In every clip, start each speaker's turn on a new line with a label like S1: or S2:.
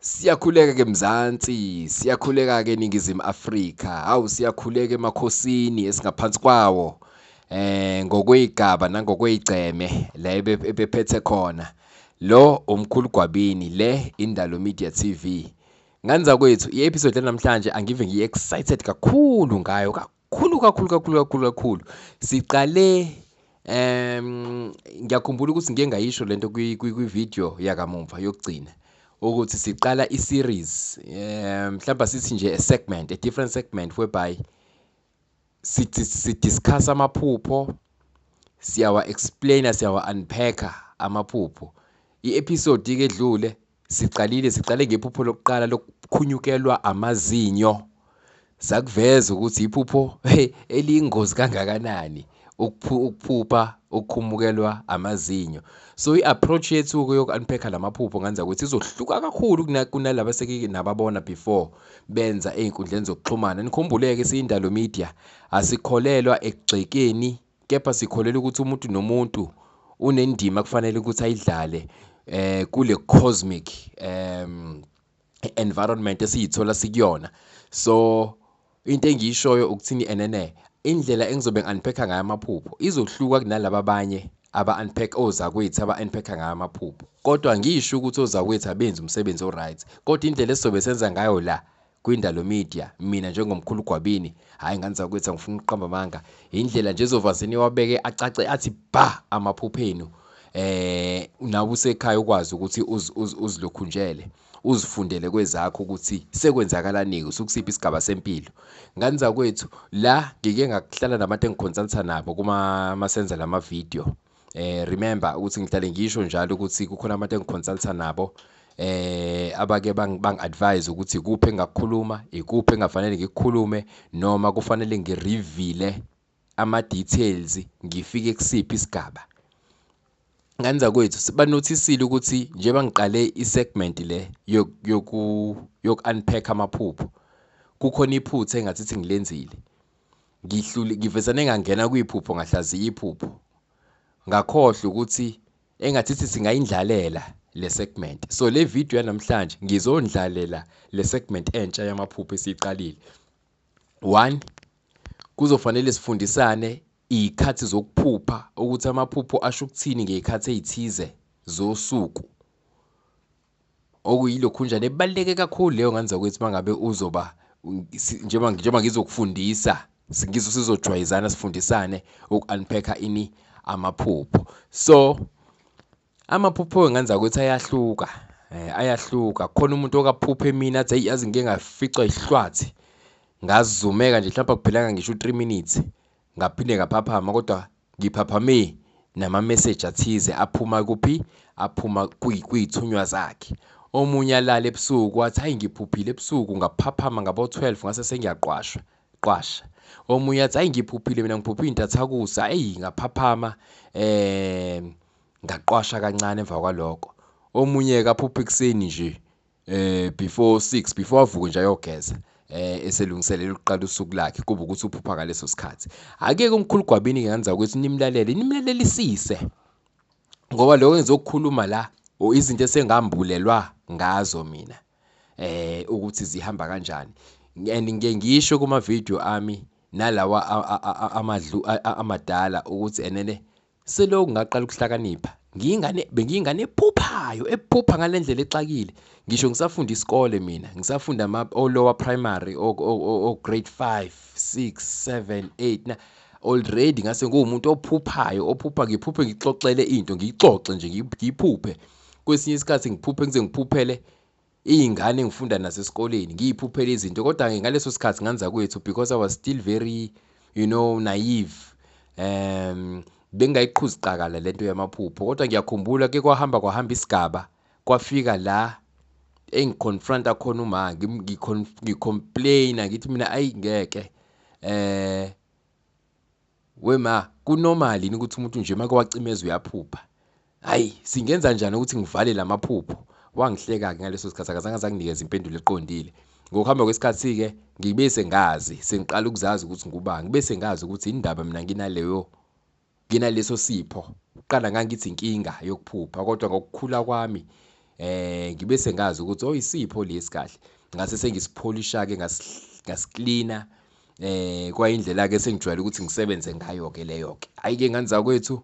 S1: Siyakhuleka ke Mzansi, siyakhuleka ke eNingizimu Afrika. Hawu siyakhuleka emakhosini esingaphansi kwawo. Eh ngokwezigaba nangokwezigceme la ebephethe khona. Lo umkhulu Gwabini le Indalo Media TV. Nganza kwethu i-episode namhlanje angive ngiyi-excited kakhulu ngayo khulu kakhulu kakhulu kakhulu kakhulu siqale um ngiyakhumbula ukuthi ngike ngayisho lento kwi-video yakamumva yokugcina ukuthi siqala i-series um mhlawumbe sithi nje a segment a different segment whereby sidiscuss amaphupho siyawa-explaina siyawa-unpacka amaphupho i-episode-ke edlule Siqalile, siqale ngephupho lokuqala lokukhunyukelwa amazinyo. Sakuveza ukuthi iphupho eliyingozi kangakanani ukuphupha ukukhumukelwa amazinyo. So i-approach yethu-ke yoku-unpack-a la maphupho ngenza ukuthi izohluka kakhulu kunalaba eseke nababona before benza ey'nkundleni zokuxhumana. Nikhumbule-ke siyindalo media, asikholelwa ekugxekeni kepha sikholelwa ukuthi umuntu nomuntu unendima kufanele ukuthi ayidlale eh kule cosmic um environment esiyithola sikuyona so into engiyishoyo ukuthini enene indlela engizobe ngi-unpacka ngayo amaphupho izohluka kunalaba abanye aba-unpack ozakwethu aba-unpacka ngayo amaphupho kodwa ngisho ukuthi ozakwethu abenzi umsebenzi o-right kodwa indlela esizobe senza ngayo la Kwindalo Media mina njengomkhulu Gwabini hayi ngane zakwethu angifuni ukuqamba amanga indlela nje zovazini wabeke acace athi ba amaphupho enu eh nawe usekhaya ukwazi ukuthi uzilokhunjele uzifundele kwezakho ukuthi sekwenzakalani usukusiphi isigaba sempilo ngani zakwethu la ngike ngakuhlala nabantu engikhonsanisa nabo kuma masenza lama video eh remember ukuthi ngihlale ngisho njalo ukuthi kukhona abantu engiconsulta nabo eh abake bangi-advise ukuthi kuphi engakukhuluma ikuphi engafanele ngikukhulume noma kufanele ngirivile ama-details ngifike kusiphi isigaba ngani zakwethu sibanothisile ukuthi njengoba ngiqale i-segment le yoku-unpack amaphupho kukhona iphutha engathi ngilenzile ngihlule ngivesane ngangena kwiphupho ngahlaziya iphupho ngakhohlwa ukuthi engathi sithi singayindlalela le segment so le video yanamhlanje ngizondlalela le segment entsha yamaphupho esiqalile one kuzofanele sifundisane iy'khathi zokuphupha ukuthi amaphupho asho ukuthini ngey'khathi ey'thize zosuku okuyilokhunjana ebaluleke kakhulu leyo ngane zakwethu uma ngabe uzoba njengoba ngizokufundisa sizojwayezana sifundisane uku-unpack-a ini amaphupho so amaphupho wengane zakwethu ayahluka eh, ayahluka khona umuntu okaphupha emini athi eyi yazi ngike ngaficwa ihlwathi ngazumeka nje mhlawumbe akuphelanga ngisho u-three minutes ngaphinde ngaphaphama kodwa ngiphaphame nama message athize aphuma kuphi aphuma kuyithunywa zakhe omunye alala ebusuku wathi hayi ngiphuphile ebusuku ngaphaphama ngabo 12 ngase sengiyaqwashwa qwasha omunye athi hayi ngiphuphile mina ngiphuphe intathakusa hey ngaphaphama eh ngaqwasha kancane emva kwaloko omunye kaphupha ekseni nje eh before 6 before avuke nje ayogeza eh eselungiselela ukuqala usuku lakhe kuba ukuthi uphupha ngaleso sikhathi akeke umkhulu gwabini ngenza ukuthi nimlalele nimlalelisise ngoba lokho engizokukhuluma la o izinto esengambulelwa ngazo mina eh ukuthi zihamba kanjani and ngike ngisho kuma video ami nalawa amadlu amadala ukuthi enene Selokhu ngaqala ukuhlakanipha, ngiyingane bengiyingane ephuphayo, ephupha ngale ndlela exakile. Ngisho ngisafunda isikole mina, ngisafunda ama o lower primary o, o, o, o grade 5, 6, 7, 8 na already ngase nguwumuntu ophuphayo, ophupha ngiphuphe ngixoxele into, ngiyixoxe nje ngiyiphuphe. Kwesinye isikhathi ngiphuphe ngize ngiphuphele iyingane ngifunda nazo esikoleni ngiyiphuphela izinto kodwa-ke ngaleso sikhathi nganza kwethu because i was still very you know naive um bengingayiqhuzi qakala lento yamaphupho kodwa ngiyakhumbula ke kwahamba kwahamba isigaba kwafika la engiconfronta khona uma ngicomplaina ngithi mina ayi ngeke eh We ma, ku normal yini ukuthi umuntu nje make wacimeza uyaphupha? Hayi, singenza njani ukuthi ngivale lamaphupho? Wangihleka-ke ngaleso sikhathi akazange asanginikeza impendulo eqondile. Ngokuhamba kwesikhathi-ke ngibe sengazi, sengiqala ukuzazi ukuthi ngubani. Ngibe sengazi ukuthi indaba mina nginaleyo nginaleso sipho. Kuqala ngangithi inkinga yokuphupha kodwa ngokukhula kwami eh ngibe sengazi ukuthi oyisipho oh, lesi kahle ngase sengisipholisha ke ngasiklina eh kwayindlela ke sengijwayele ukuthi ngisebenze ngayo ke leyo ke ayike nganza kwethu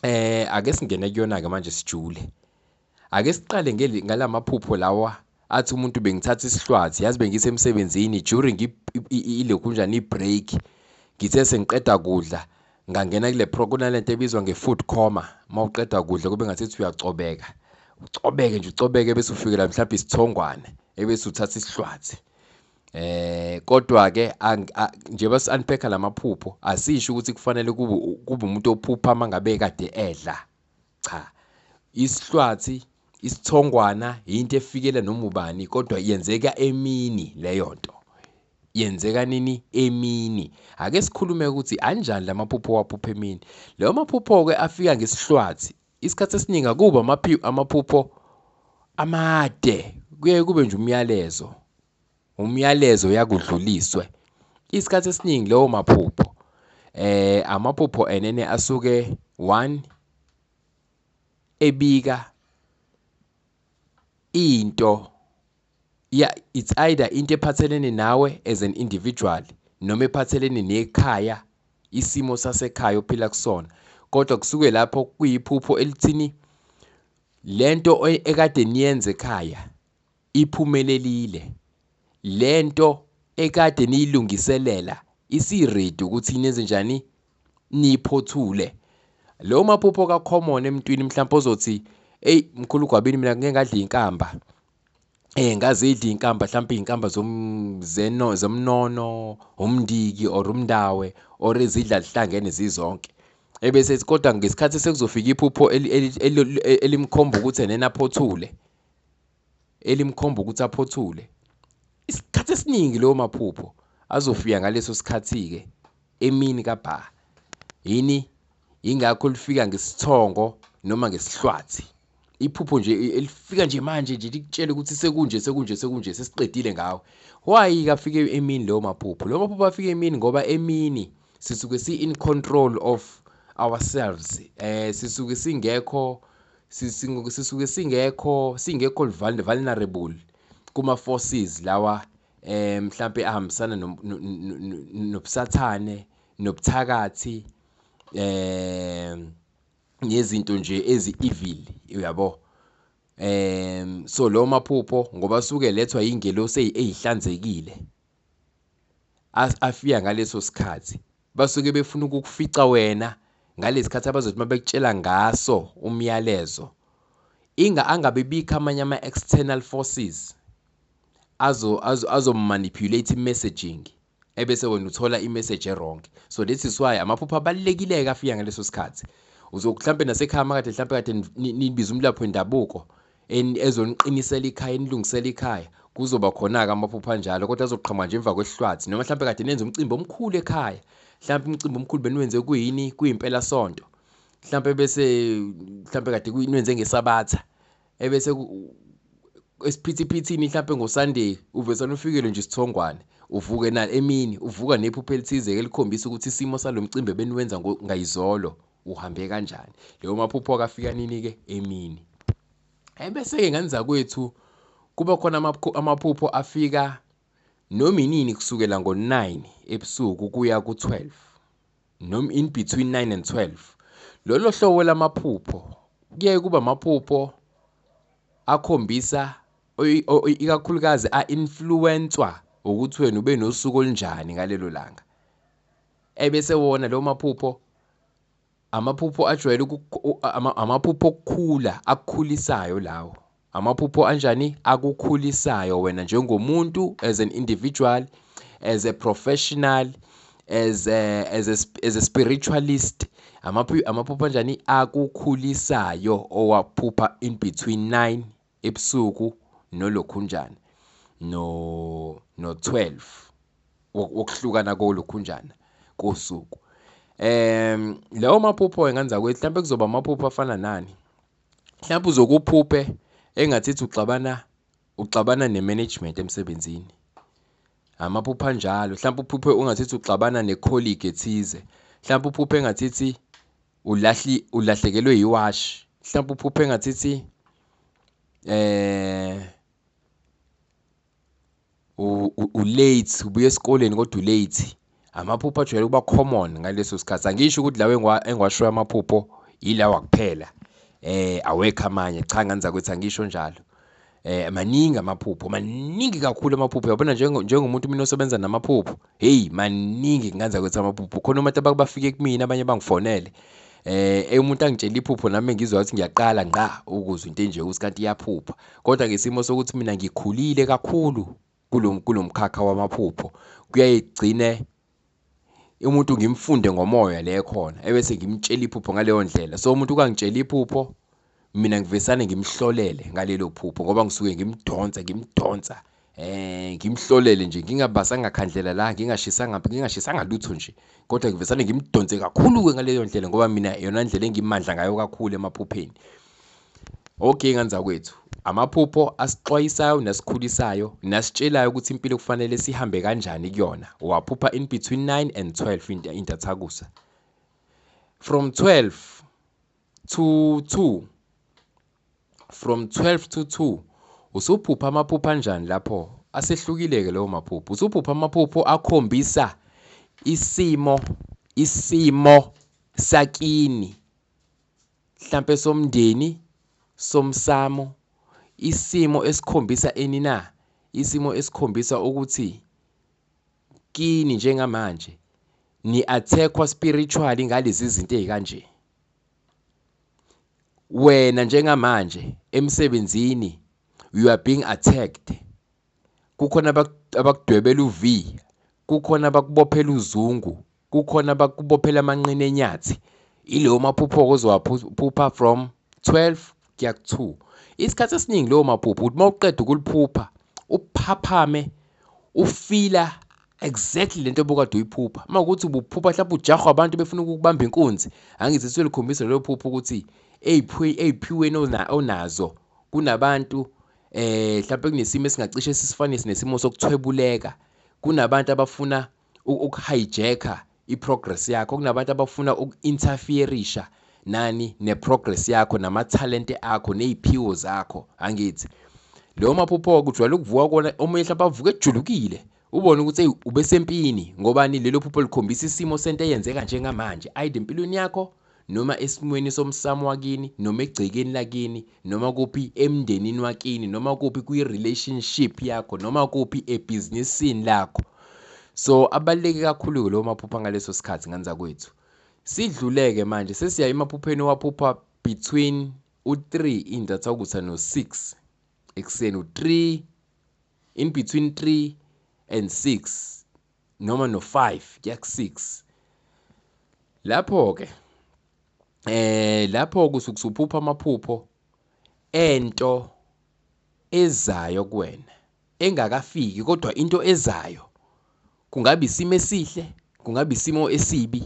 S1: eh ake singene kuyona ke manje sijule ake siqale ngalamaphupho lawa athi umuntu bengithatha isihlwathi yazi bengisemsebenzini during ilekunjani i-break ngithe sengiqeda kudla ngangena kule pro kunalento ebizwa nge-food coma uma uqeda kudla kube ngathi ethi uyacobeka ucobeke nje ucobeke bese ufikela mhlawumbe isithongwane ebese uthatha isihlwathi eh kodwa ke njengoba si-unpacka lamaphupho asisho ukuthi kufanele kube kube umuntu ophupha mangabe kade edla Cha. Isihlwathi, isithongwana yinto efikela noma ubani kodwa yenzeka emini leyo nto. Yenzeka nini? Emini. Ake sikhulume ukuthi anjani la maphupho owaphupha emini. Lawo maphupho-ke afika ngesihlwathi. Isikhathi esiningi akubi amaphupho amade, kuye kube nje umyalezo. umyalezo uyakudluliswe isikhathi esiningi lowo maphupho eh amaphupho enene asuke one ebika into ya it's either into ephathelene nawe as an individual noma ephathelene nekhaya isimo sasekhaya ophila kusona kodwa kusuke lapho kuyiphupho elithini lento e-, ekade niyenze ekhaya Iphumelelile. Le nto ekade niyilungiselela isiredi ukuthi nenzenjani niyiphothule. Lo maphupho ka-common emntwini mhlawumpe ozothi eyi mkhulu gwabini mina ngeke ngadla inkamba. Eh ngazidla inkamba mhlawumpe izinkamba zomzeno zomnono, umndiki or umndawe or izidla zihlangene zizonke. Ebese ethi kodwa ngesikhathi sekuzofika iphupho elimkhomba ukuthi enena aphothule. elimkhomba ukuthi aphothule. Isikhathi esiningi leyo maphupho azofika ngaleso sikhathi-ke emini kabha. Yini? Yingakho lifika ngesithongo noma ngesihlwathi. Iphupho nje elifika nje manje nje likutshele ukuthi sekunje sekunje sekunje sesiqedile ngawe. Why kafike emini leyo maphupho? Leyo maphupho afike emini ngoba emini sisuke si in control of ourselves eh sisuke singekho sisuke singekho singekho vulnerable kuma forces lawa eh mhlambe ahambisana nobusathane nobuthakathi eh nezinto nje ezi evil uyabo eh so lo maphupho ngoba suke lethwa ingelosi ezihlanzekile afika ngaleso sikhathi basuke befuna ukukufica wena ngalesikhathi abazothi mabekutshela ngaso umyalezo inga angabe bikho amanye ama-external forces azo azomanipulate azo i-messaging ebese wena uthola i-message erong so this is why amaphupho abalulekile-ke afika ngaleso sikhathi uzokuhlampe nasekhaya makade hlampe kade nibiza umlapho wendabuko ezoniqinisela ikhaya enilungisela ikhaya kuzoba khona-ke amaphupho anjalo kodwa azoqhamuka nje emva kwehlwathi noma mhlawumbe kade nenze umcimbi omkhulu ekhaya mhlawumbe umcimbi omkhulu beniwenze kuyini kuyimpelasonto mhlawumbe bese mhlawumbe kade kuyinwenze ngesabatha ebese esiphithiphithini mhlawumbe ngosunday uvesana ufikele nje isithongwane uvuke na emini uvuka nephupho elithize-ke likhombisa ukuthi isimo salo mcimbi ebeniwenza ngayizolo uhambe kanjani leyo maphupho akafika nini ke emini ebese ke ngenza kwethu kuba khona amaphupho afika noma inini kusukela ngo-9 ebusuku kuya ku-12 noma in between 9 and 12 lolo hlobo lamaphupho kuyaye kuba amaphupho akhombisa ikakhulukazi a-influwenswa ukuthi wena ube nosuku olunjani ngalelo langa ebese wona lo maphupho amaphupho ajwayele amaphupho okukhula akukhulisayo lawo amaphupho anjani akukhulisayo wena njengomuntu as an individual as a professional as a, as a, as a spiritualist amaphupho anjani akukhulisayo owaphupha in between 9 ebusuku nolokhunjana no no 12 wokuhlukana kolokhunjana kosuku em lawo maphupho enganza kwethu mhlawumbe kuzoba amaphupho afana nani mhlawumbe uzokuphuphe engathithi uxabana uxabana nemanagement emsebenzini amaphupho anjalo mhlawumbe uphuphe ungathithi uxabana necolleague ethize mhlawumbe uphuphe engathithi ulahli ulahlekelwe yiwashi mhlawumbe uphuphe engathithi eh ulate ubuye esikoleni kodwa ulate amaphupho ajwayele ukuba common ngaleso sikhathi angisho ukuthi lawo engiwashoyo amaphupho yilawa kuphela eh awekho amanye cha nganza kwethu angisho njalo eh maningi amaphupho maningi kakhulu amaphupho yabona njengomuntu mina osebenza namaphupho hey maningi nganza ukuthi amaphupho khona umuntu abakubafike kumina abanye bangifonele eh umuntu angitshela iphupho nami ngizwa ukuthi ngiyaqala ngqa ukuzwa into enje usikanti iyaphupha kodwa ngesimo sokuthi mina ngikhulile kakhulu kulomkhakha wamaphupho kuyayigcine umuntu ngimfunde ngomoya le ekhona ebese ngimtshela iphupho ngaleyo ndlela so umuntu ukangitshela iphupho mina ngivesane ngimhlolele ngalelo phupho ngoba ngisuke ngimdonsa ngimdonsa eh ngimhlolele nje ngingabasanga khandlela la ngingashisanga ngingashisanga lutho nje kodwa ngivesane ngimdonse kakhulu ke ngaleyo ndlela ngoba mina yona indlela engimandla ngayo kakhulu emaphupheni Okay ngane zakwethu, amaphupho asixwayisayo nesikhulisayo nasitshelayo ukuthi impilo kufanele sihambe kanjani kuyona. Waphupha in between 9 and 12 intathakusa. From 12 to 2 from 12 to 2 usuphupha amaphupho anjani lapho? Asehlukile-ke lawo maphupho. Usuphupha amaphupho akhombisa isimo isimo sakini mhlampe somndeni, somsamo, isimo esikhombisa ini na? Isimo esikhombisa ukuthi kini njengamanje ni-attack-wa spiritually ngalezi zinto ezikanje. Wena njengamanje emsebenzini you are being attacked. Kukhona abakudwebela uV, kukhona abakubophela uzungu kukhona abakubophela amanqina enyathi ileyo maphupho-ke ozowaphupha from 12 kuya ku-2 isikhathi esiningi leyo maphupho ukuthi uma uqeda ukuliphupha uphaphame ufila exactly lento obukade uyiphupha uma ukuthi ubuphupha mhlawumbe ujahwa abantu befuna ukubamba inkunzi angithi selikhombisa lelo phupho ukuthi ey'phiweni onazo kunabantu eh mhlawumbe kunesimo esingacishe sisifanise nesimo sokuthwebuleka kunabantu abafuna ukuhijacker iprogress yakho kunabantu abafuna uku-interferisha nani neprogress yakho namathalente akho neziphiwo zakho angithi leyo maphupho kujwayele ukuvuka kona omunye mhlawumbe avuke ejulukile ubone ukuthi eyi ubesempini ngobani lelo phupho likhombisa isimo sento eyenzeka njengamanje ayide empilweni yakho noma esimweni somsamo wakini noma egcekeni lakini noma kuphi emndenini wakini noma kuphi kwi-relationship yakho noma kuphi ebhizinisini lakho so abaluleke kakhulu-ke lowo maphupha ngaleso sikhathi ngane zakwethu sidluleke manje sesiya emaphupheni owaphupha between u-3 indatha ukuthi no-6 ekuseni u-3 in between 3 and 6 noma no-5 kuya ku-6 lapho-ke eh lapho kusuke usuphupha amaphupho ento ezayo kuwena engakafiki kodwa into ezayo kungabe isimo esihle kungabe isimo esibi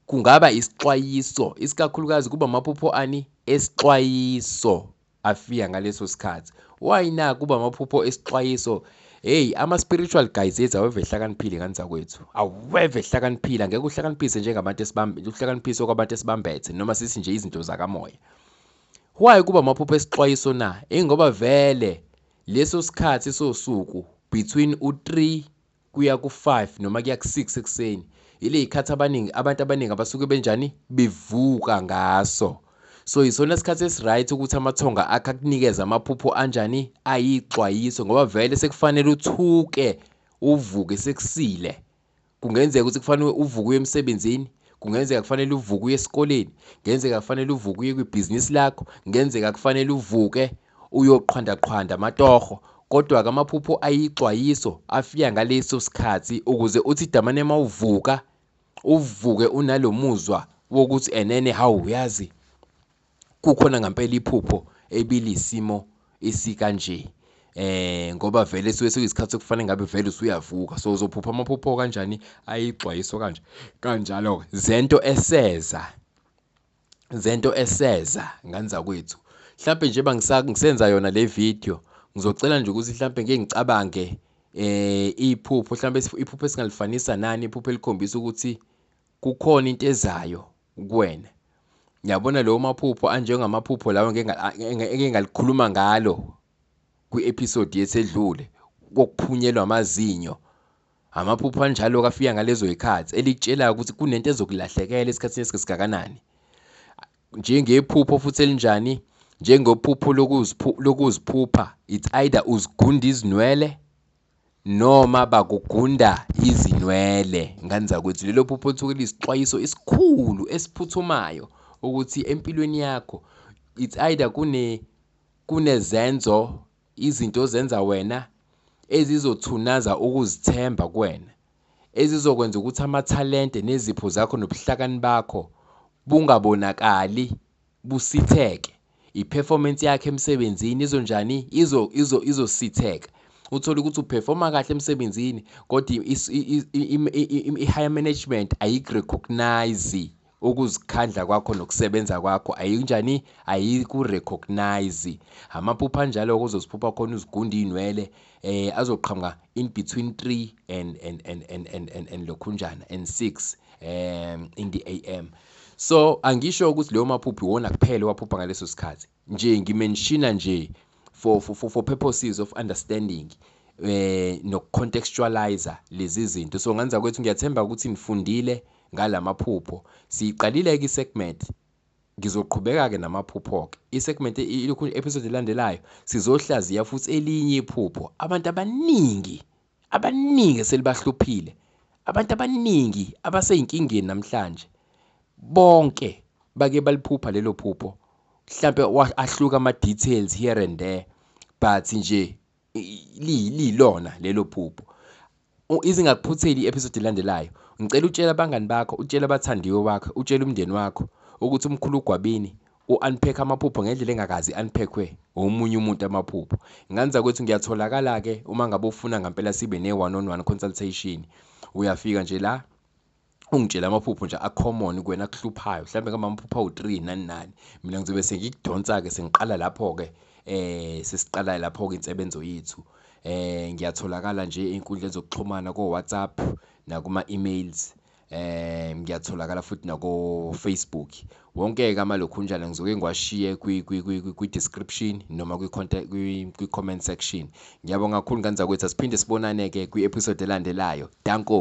S1: Kungaba isixwayiso, isikakhulukazi kuba amaphupho ani esixwayiso afika ngaleso sikhathi. Why na kuba amaphupho esixwayiso? Hey, ama-spiritual guys ethu aweve ehlakaniphile ngani zakwethu. Aweve ehlakaniphile, angeke uhlakaniphise njengabantu esibambe, uhlakaniphise okwabantu esibambethe noma sithi nje izinto zakamoya. Why kuba amaphupho esixwayiso na? Ingoba vele leso sikhathi sosuku between u-3 kuya ku 5 noma kuya ku 6 ekuseni ile ikhathi abaningi abantu abaningi abasuke benjani bevuka ngaso so yisona sikhathi esiright ukuthi amathonga akhe akunikeze amaphupho anjani ayixwayiso ngoba vele sekufanele uthuke uvuke sekusile kungenzeka ukuthi kufanele uvuke uye emsebenzini kungenzeka kufanele uvuke uye esikoleni kungenzeka kufanele uvuke uye kwibhizinisi lakho kungenzeka kufanele uvuke uyoqhwandaqhwanda amatoho kodwa ke amaphupho ayixwayiso afika ngaleso sikhathi ukuze uthi damane uma uvuka uvuke unalo muzwa wokuthi enene hawu uyazi kukhona ngampela iphupho ebilisimo esikanje eh ngoba vele suke sekuyisikhathi sokufanele ngabe vele usuyavuka so uzophupha amaphupho kanjani ayixwayiso kanje kanjalo zento eseza zento eseza ngane zakwethu mhlampe nje bangisenza yona le video ngizocela nje ukuthi mhlampe ngeke ngicabange eh iphupho mhlambe iphupho esingalifanisa nani iphupho elikhombisa ukuthi kukhona into ezayo kuwena yabona leyo maphupho anjengamaphupho lawo engeke ngalikhuluma ngalo kwi-episode yesedlule kokuphunyelwa amazinyo Amaphupho anjalo kafika ngalezo yikhathi elikutshelayo ukuthi kunento ezokulahlekela esikhathini esikakanani. Njengephupho futhi elinjani njengophupho lokuziphupha it's either uzigunda izinwele noma bakugunda izinwele ngani zakwethu lelo phupho lithuke lisixwayiso esikhulu esiphuthumayo ukuthi empilweni yakho it's either kune kunezenzo Izinto ozenza wena ezizothunaza ukuzithemba kuwena, ezizokwenza ukuthi amathalente nezipho zakho nobuhlakani bakho bungabonakali busitheke. I-performance yakhe emsebenzini izonjani? Izo izo izositheka. Uthole ukuthi uperforma kahle emsebenzini kodwa i-higher management ayiku-recognize. ukuzikhandla kwakho nokusebenza kwakho ayinjani ayikurecognize amaphupha anjalo kuzosiphupha khona uzigunde iy'nwele eh azoqhamuka in between 3 and and and and and, and, and lokhunjana and 6 um in the am so angisho ukuthi leyo maphuphi wona kuphela waphupha ngaleso sikhathi nje ngimenshina nje for for for, for purposes of understanding eh nokucontextualizer lezi zinto so nganza kwethu ngiyathemba ukuthi nifundile ngalamaphupho siqalile ke segment ngizoqhubeka ke namaphupho ke isegment ilokhu episode elandelayo sizohlaziya futhi elinye iphupho abantu abaningi Abaningi eselibahluphile abantu abaningi abaseyinkingeni namhlanje bonke bake baliphupha lelo phupho mhlambe ahluka ama details here and there but nje lilona lelo phupho izingakuphutheli i-episode elandelayo ngicela utshela abangani bakho utshela abathandiwe wakho utshela umndeni wakho ukuthi umkhulu ugwabini u-unpack amaphupho ngendlela engakazi i-unpackwe omunye umuntu amaphupho nganza kwethu ngiyatholakala-ke uma ngabe ufuna ngampela sibe ne-one on one consultation uyafika nje la ungitshela amaphupho nje a-common kuwena akuhluphayo mhlawumbe kambe amaphupho awu-three nani nani mina ngizobe sengikudonsa-ke sengiqala lapho-ke um sesiqala lapho-ke insebenzo yethu um ngiyatholakala nje ey'nkundleni zokuxhumana ko-whatsapp nakuma-emails eh ngiyatholakala futhi nako Facebook wonke ke amalokhunjana ngizoke ngiwashiye kwi kwi kwi description noma kwi contact kwi comment section ngiyabonga kakhulu ngane zakwethu asiphinde sibonane ke kwi episode elandelayo danko